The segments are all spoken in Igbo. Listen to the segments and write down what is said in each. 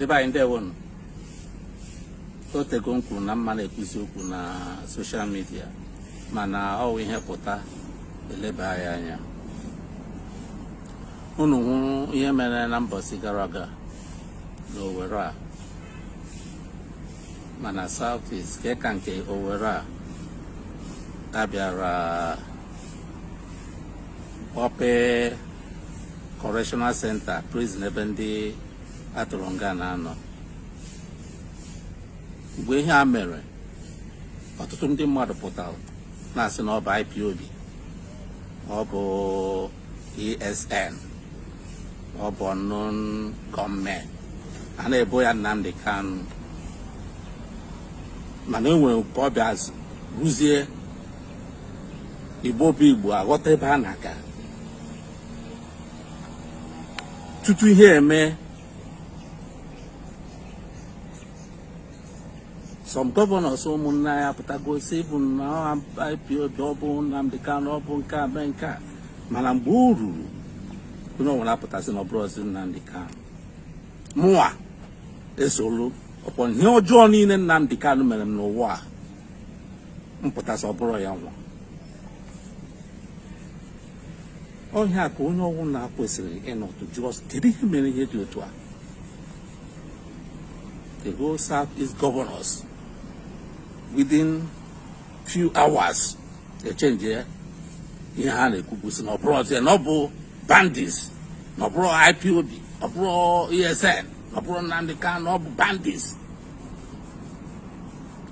ndị be anyị ndewonụ otego m kwuru na m ma na-ekwuzi okwu na soshal midia mana ọ wụ ihe pụta eleba ya anya unu hụrụ ihe mere na mbọsị gara aga na Owerri a ma na South East ka ka nke Owerri a bịara kpọpee correctional center prison ebe ndị a tụrụ nga na-anọ mgbe ihe a mere ọtụtụ ndị mmadụ pụtara na-asị na ọ bụ IPOB ọ bụ ESN ọ bụ unknown gunmen a na-ebo ya Nnamdi Kanu mana e nwere ka ọ bịa ruzie igbo bụ igbo aghọta ebe a na-aga tutu ihe eme some gọvanọs ụmụnne anyị apụtago sị bụ na IPOB ọ bụ Nnamdi Kanu ọ bụ nke a mee nke a mana mgbe o ruru onye ọbụla apụta sị na ọ bụrọzị Nnamdi Kanu mụnwa esolu ọkpọ ihe ọjọọ niile Nnamdi Kanu mere m n'ụwa a m pụta sị ọ bụrọ ya nwa ọ ihe a ka onye ọwụna kwesịrị ịnọtụ jụọ kedu ihe mere ihe dị otu a the whole south east governors within few hours echenje ihe ha na-ekwubu sị na ọ bụrọzị na ọ bụ bandits na ọ bụrọ ipob ọ bụrọ esn ọ bụrọ Nnamdi Kanu ọ bụ bandits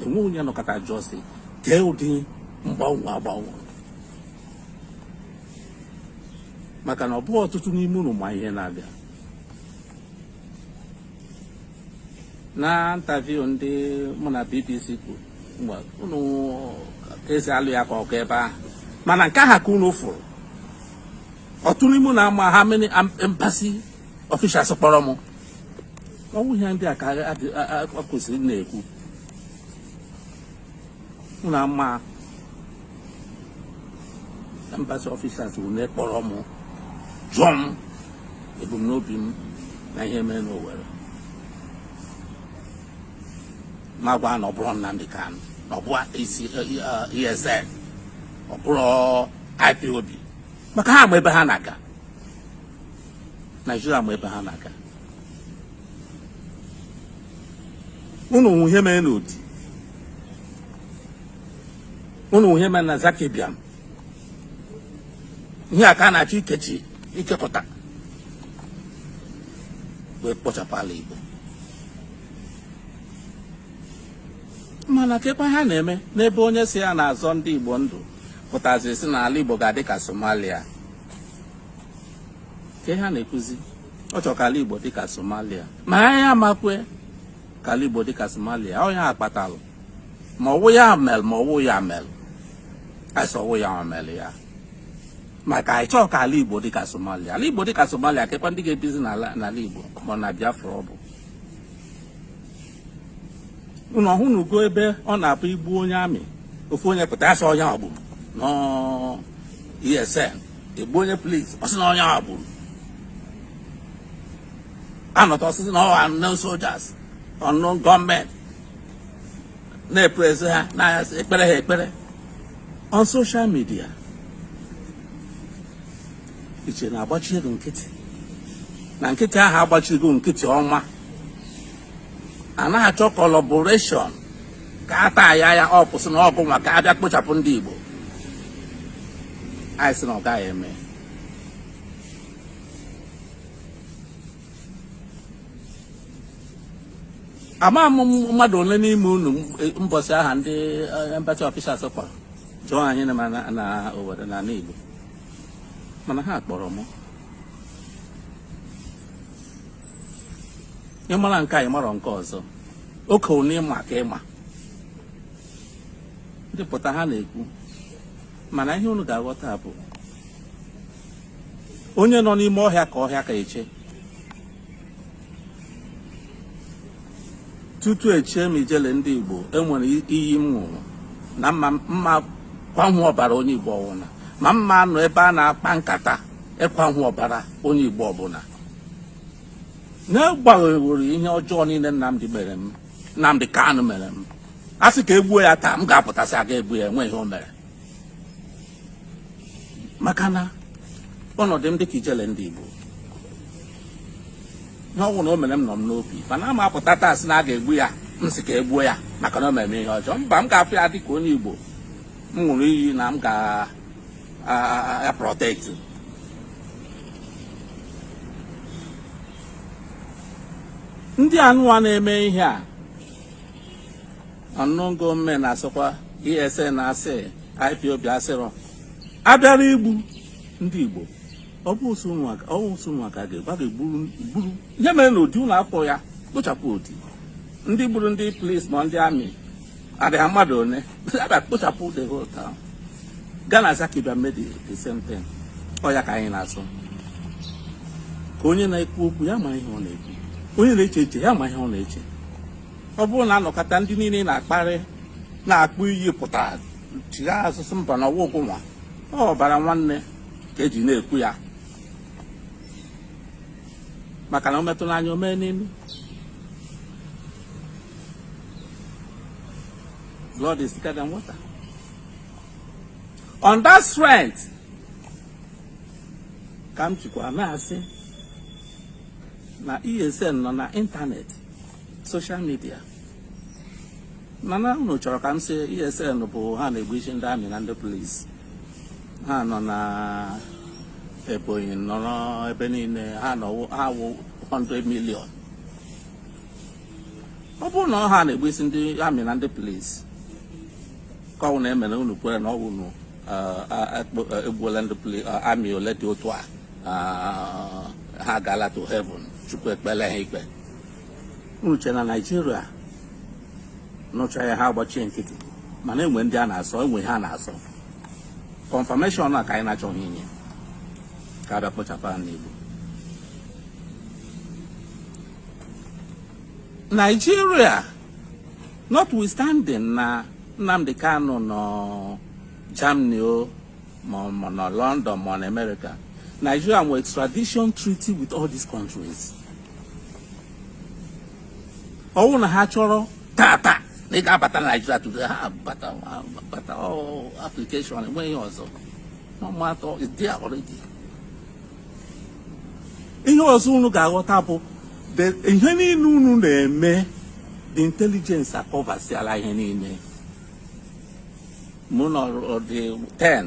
e nwe onye nọkata jụọ sị kee ụdị mgbanwe a gbanwe maka na ọ bụghị ọtụtụ n'ime unu ma ihe na-abịa na intaviu ndị mụ na BBC kwuru mgbe unu esi alụ ya ka ọkụ ebe ahụ mana nke aha ka unu fụrụ ọtụtụ n'ime unu ama how many embassy ọfishals kpọrọ m ọ wụ ihe ndị a ka ọ kwesịrị na-ekwu unu ama embassy ọfishals one kpọrọ m jụọ m ebumnobi m na ihe mere n'Owerri m agwa na ọ bụrọ Nnamdi Kanu na ọ bụrọ ESN ọ bụrọ IPOB maka ha ma ebe ha na-aga Naijiria ma ebe ha na-aga unu nụ ihe mere n'Odi unu nụ ihe mere na Zaki Biam ihe a ka a na-achọ ikechi ikekọta wee kpochapụ ala Igbo mana kekwa ha na-eme n'ebe onye sị ya na-azọ ndị Igbo ndụ pụtaziri sị na ala Igbo ga-adị ka Somalia kee ihe a na-ekwuzi ọ chọrọ ka ala Igbo dịka Somalia ma anyị ama ekwe ka ala Igbo dịka Somalia ọ ya kpatalụ ma ọ wụ ya melụ ma ọ wụ ya melụ a sị ọ wụ ya melụ ya maka anyị chọọ ka ala Igbo dịka Somalia ala Igbo dịka Somalia kekwa ndị ga-ebizi n'ala Igbo ma na Biafra ọ bụ unu ọ hụnugo ebe ọ na-abụ egbuo onye army ofu onye pụta sị ọ ya gburu nọ ESN egbuo onye polis ọ sị na ọ ya gburu a nọta ọ sị sị na ọ ha unknown soldiers unknown gunmen na-epraise ha na ya sị ekpeere ha ekpere on social media i che na agbachigo nkịtị na nkịtị ahụ agbachigo nkịtị ọma a na-achọ collaboration ka a taa ya ya ọ kwụsị na ọgụ nwa ka a bịa kpochapụ ndị Igbo anyị sị na ọ gaghị eme ama m mmadụ ole n'ime unu mbọsị ahụ ndị eh, embassy officials kpọrọ jụọ anyị na na Owerri na Igbo mana ha kpọrọ m ị mara nke a ị marọ nke ọzọ okay unu ịma ka ịma ndị pụta ha na-ekwu mana ihe unu ga-aghọta bụ onye nọ n'ime ọhịa ka ọhịa ka eche tutu echie m Ijele ndị Igbo enwere iyi m ṅụrụ na ama m akwahu ọbara onye Igbo ọwụna ama m anọ ebe a na-akpa nkata ịkwahu ọbara onye Igbo ọbụla n'agbanyeghị ihe ọjọọ niile Nnamdi mere m Nnamdi Kanu mere m a sị ka egbuo ya taa m ga-apụta sị aga egbu ya enweghị ihe o mere maka na ọnọdụ m dịka Ijele ndị Igbo ihe ọwụna o mere m nọ m n'obi mana ama m apụta taa sị na a ga-egbu ya m sị ka egbuo ya maka na o mere m ihe ọjọọ mba m ga-afụ ya dịka onye Igbo m ṅụrụ iyi na m ga-protect ndị anụwa na-eme ihe a unknown gunmen asịkwa ESN asị IPOB asịrọ abịara igbu ndị Igbo ọ bụ ụsụ nwa ka ga-egburu ihe mere na Odi ụlọ afọ ya kpochapụ Odi ndị gburu ndị polis ma ndị amị adịghị mmadụ one abịa kpochapụ the whole town gaa na Zaki Biam the same thing ọ ya ka anyị na-asụ ka onye na-ekwu okwu ya ma ihe ọ na-ekwu onye na-eche eche ya ma ihe ọ na-eche ọ bụrụ na anọkata ndị niile na-akparị na-akpọ iyi pụta chigha asụsụ mbanụ ọwụ ụgwụnwa ọ bụ ọbara nwanne ka eji na-ekwu ya maka na o metụ n'anya o mee n'imi blood is thicker than water on that strength ka m jikwa na-asị na ESN nọ na internet social media mana unu chọrọ ka m sị ESN bụ ha na-egbusi ndị amị na ndị polisi ha nọ na Ebonyi nọrọ ebe niile ha nọ ha wụ 100 million ọ bụrụ na ọ ha na-egbusi ndị amị na ndị polisi ka unu na-eme na unu kwere na ọwụ unu egbuola ndị amị ole dị otu a ha gaala to heaven Chukwu ekpele ha ikpe unu che na Nigeria nụcha ya ha agbachie nkịtị mana enwe ndị a na-asọ enwe ihe a na-asọ confirmation a ka anyị na-achọghị inye ka abịa kpochapụ ha n'Igbo Nigeria notwithstanding na Nnamdi Kanu nọ Germany o ma na London ma na America Nigeria nwere extradition treaty with all these countries ọwụ na ha chọrọ tata na ị ga-abata Nigeria today ha bata bata application enweghị ọzọ no matter it's there already ihe ọzọ unu ga-aghọta bụ ihe niile unu na-eme the intelligence akọvasiala ihe niile ma unu ọ dị 10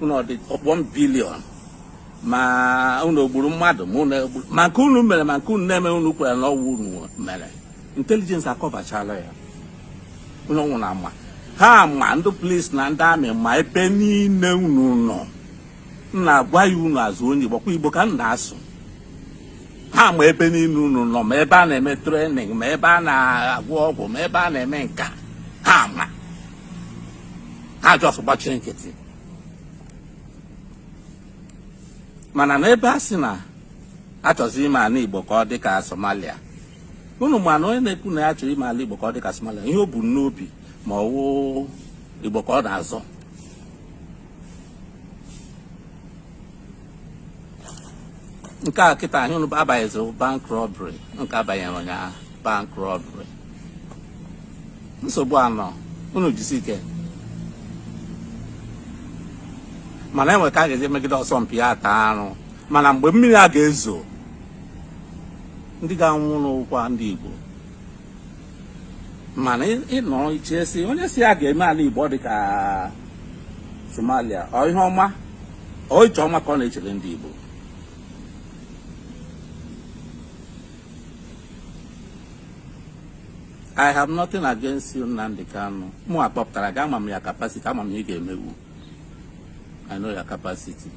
unu ọ dị ọkpọ m billion ma unu gburu mmadụ ma unu egburo ma nke unu mere ma nke unu na-eme unu kwere na ọwụ unu mere intelligence akọvachala ya unu nwụrụ ama ha ma ndị polis na ndị amị ma ebe niile unu nọ m na-agwa ya unu azụ onye Igbo kwa Igbo ka m na-asụ ha ma ebe niile unu nọ ma ebe a na-eme training ma ebe a na-agwọ ọgwụ ma ebe a na-eme nka ha ma ha just gbachie nkịtị mana n'ebe a sị na achọzi ime ala igbo ka ọ dị ka somalia unu ma na onye na-ekwu na ya chọrọ ime ala igbo ka ọ dị ka somalia ihe o bu n'obi ma ọ wụ igbo ka ọ na-azọ nke a kịta ahụ unu abanyeziri bank robbery nke a banyere ụnyaahụ bank robbery nsogbu anọ unu jisi ike mana e nwe ka a ga-esi megide ọsọ mpi ya ata arụ mana mgbe mmiri a ga-ezo ndị ga-anwụnụ ọ kwa ndị Igbo mana ị nọ eche sị onye sị ya ga-eme ala Igbo dị ka Somalia ọ ihe ọma ọ iche ọma ka ọ na-echere ndị Igbo I have nothing against Nnamdi Kanu mụwa kpọpụtara gị ama m your capacity ama m ihe ị ga-emenwu I know your capacity.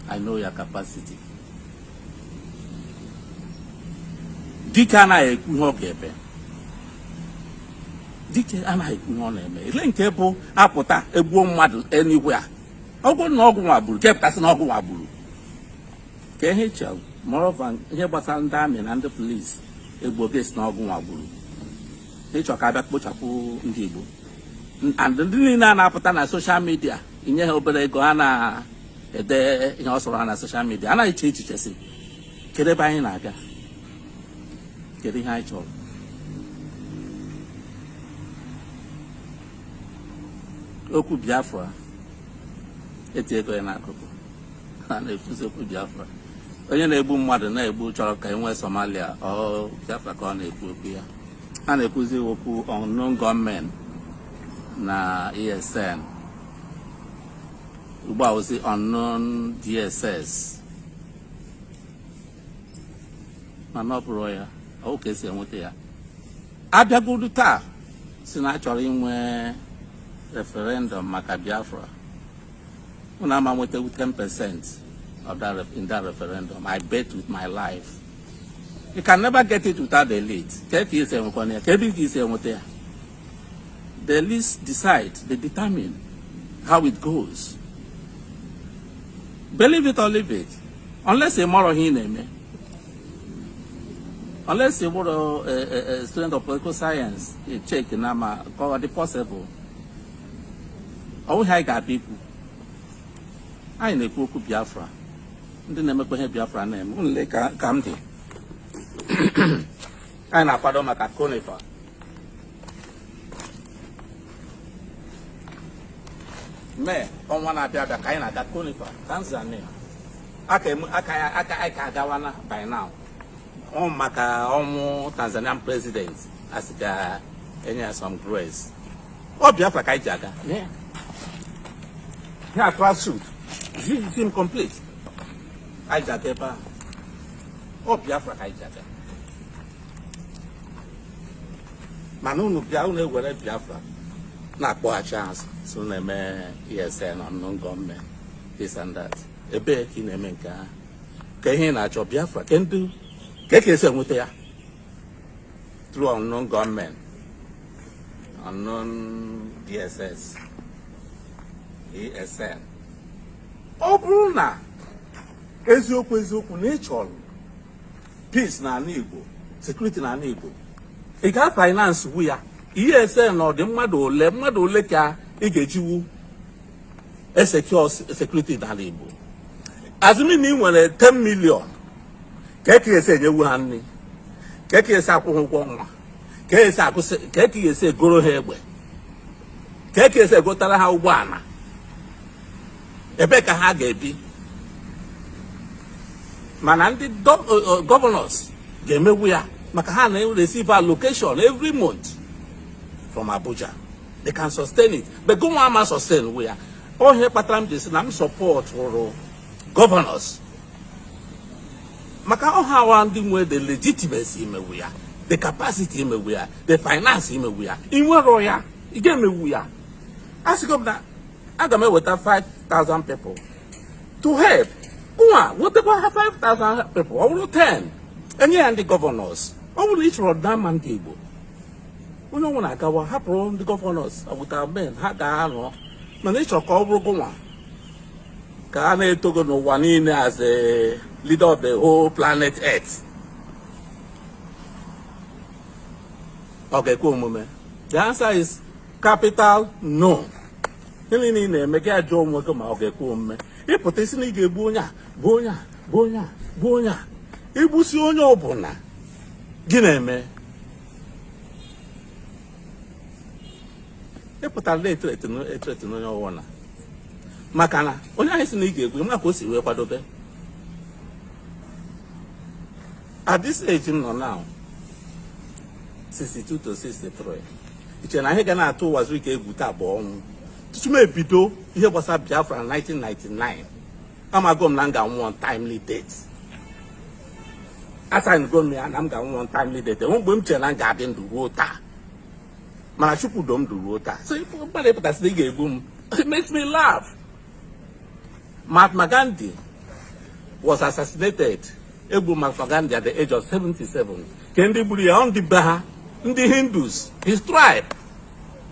I know your capacity. Dike anaghị ekwu ihe ọ ga-eme. Dike anaghị ekwu ihe ọ na-eme. Ile nke bụ a pụta e gbuo mmadụ enigwe a. Ọ gị na ọ gịnwa gburu, ka ị pụta sị na ọ gịnwa gburu. Ka ihe chọrọ, ma ọ bụrụ ihe gbasara ndị army na ndị police e gbuo gị asị na ọ gịnwa gburu. ị chọ ka a bịa kpochapụ ndị Igbo and ndị niile a na-apụta na social media e nye ha obere ego ha na-ede ihe ọ sọrọ ha na social media anaghị eche echiche sị kedu ebe anyị na-aga kedu ihe anyị chọrọ okwu Biafra e tiego ya n'akụkụ a na-ekwuzi okwu Biafra onye na-egbu mmadụ na-egbu chọrọ ka e nwee Somalia ọ Biafra ka ọ na-ekwu okwu ya a na-ekwuzi okwu unknown gunmen na ESN ugbu a ọ wụzi unknown DSS mana ọ bụrụ ya ọ wụ ka e si enweta ya a bịagodu taa sị na a chọrọ inwe referendum maka Biafra unu ama nweta 10 percent in that referendum I bet with my life you can never get it without the elite ka ka e si enwekwa ya ka ebe ka e si enweta ya the elites decide they determine how it goes believe it or leave it unless ị marọ ihe ị na-eme unless ị bụrọ eh, eh, eh, student of political science check na ma ka ọ dị possible ọ bụghị anyị ga-abịa ikwu anyị na-ekwu okwu Biafra ndị na-emekwa ihe Biafra na-eme unu lee ka ka m dị anyị na-akwado maka CONIFA May ọnwa na-abịa abịa ka anyị na-aga CONIFA Tanzania aka emu- aka ya aka anyị ka agawana by now ọ maka ọnwụ Tanzanian president a sị ka e nye ya some grace ọ Biafra ka anyị ji aga ihe a tracksuit zi m complete anyị ji aga ebe ahụ ọ Biafra ka anyị ji aga mana unu bịa unu ewere Biafra na-akpọghachi azụ so na-eme ESN unknown gunmen this and that ebee ka ị na-eme nke ahụ ka ihe ị na-achọ Biafra kedụ ka eke esi enweta ya through unknown gunmen, unknown DSS, ESN. Ọ bụrụ na eziokwu eziokwu na ị chọrọ peace na ala Igbo, security na ala Igbo, ị ga finance wu ya. ESN ọ dị mmadụ ole mmadụ ole ka ị ga-ejiwu e-secure security n'ala Igbo assuming na ị nwere 10 million ka eke esi enyewu ha nri ka eke esi akwụ ha ụgwọ ọnwa ka esi akụsị ka eke esi egoro ha egbe ka eke esi egotara ha ụgbọala ebee ka ha ga-ebi mana ndị governors ga-emewu ya maka ha na-receive allocation every month from Abuja they can sustain it but gụnwa ama sustainwu ya ọ ihe kpatara m ji sị na m supportụrụ governors maka ọ ha wụ ndị nwe the legitimacy imewu ya the capacity imewu ya the finance imewu ya i nwerọ ya ị ga-emewu ya asịgo m na aga m eweta 5000 people to help nwa wetakwa ha 5000 people ọ bụrụ 10 e nye ya ndị governors ọ bụrụ ị chọrọ ọdịmma ndị Igbo onye ọbụla agawa hapụrụ ndị governors agwụta men ha ga-anọ mana ị chọ ka ọ bụrụ gụnwa ka a na-eto gị n'ụwa niile as a leader of the whole planet earth ọ ga-ekwe omume the answer is capital no ihe niile ị na-eme gị ajụọ onwe gị ma ọ ga-ekwe omume ị pụta ị sị na ị ga-egbu onye a gbuo onye a gbuo onye a gbuo onye a i gbusịa onye ọbụla gị na-eme ị pụtara na-ethreaten na-ethreaten onye ọwụna maka na onye ahụ ị sị na ị ga-egbu ya, ma ka o si wee kwadobe at this age m nọ now 62 to 63 i che na ihe ga na-atụ Ụwazuruike egwu taa bụ ọnwụ tutu m ebido ihe gbasara biafra na 1999 amago m na m ga-anwụ untimely death asigngo m ya na m ga-anwụ untimely death enwe mgbe m chere na m ga-adị ndụ ruo taa mana chukwu do m ndụ ruo taa so ife mmadụ ịpụta sị na ị ga-egbu m it makes me laugh Mahatma Gandhi was assassinated e gbu Mahatma Gandhi at the age of 77 kee ndị gburu ya ọ ndị be ha ndị Hindus his tribe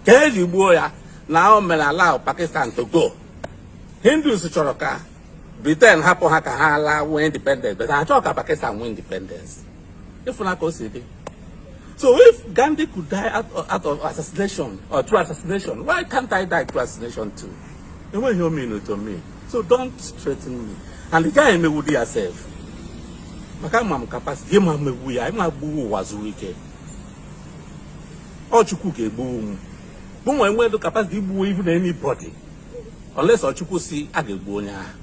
kee ihe e ji gbuo ya na o mere allow Pakistan to go Hindus chọrọ ka Britain hapụ ha ka ha laa nwee independence but ha chọọ ka Pakistan nwee independence ịfụna ka o si dị so if Gandhi could die out of, out of assassination or through assassination why can't I die through assassination too enweghị ihe ọ mean to me so don't threaten me and the guy ama egbudi ya sef maka ama m capacity ị ma egbu ya ị ma egbu Ụwazuruike ọ chukwu ga-egbu m mụ nwa enwerọ capacity igbu even anybody unless ọ chukwu sị a ga-egbu onye ahụ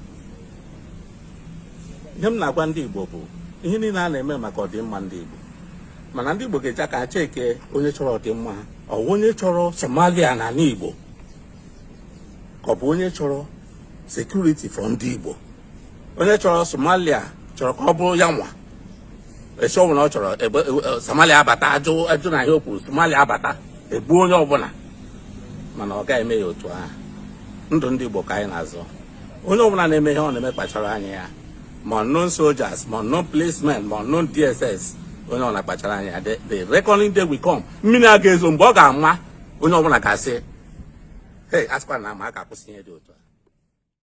ihe m na-agwa ndị igbo bụ ihe niile a na-eme maka ọdịmma ndị igbo mana ndị igbo ga-eji aka ha cheke onye chọrọ ọdịmma ha ọ bụ onye chọrọ somalia na ala igbo ka ọ bụ onye chọrọ security for ndị igbo onye chọrọ somalia chọrọ ka ọ bụrụ ya nwa isi ọbụla ọ chọrọ egbue, Somalia abata ajụ ajụ na ihe o kwuru Somalia abata egbuo onye ọbụla mana ọ gaghị eme ya otu ahụ ndụ ndị Igbo ka anyị na-azọ onye ọbụla na-eme ihe ọ na-eme kpachara anya ya ma ụnụ soldiers ma ụnụ policemen ma ụnụ DSS onye ọbụla kpachara anya ya the reckoning day will come mmiri a ga-ezo mgbe ọ ga-ama onye ọbụla ga-asị hey a sịkwa na a ma a ka-akwụsị ihe dị otu a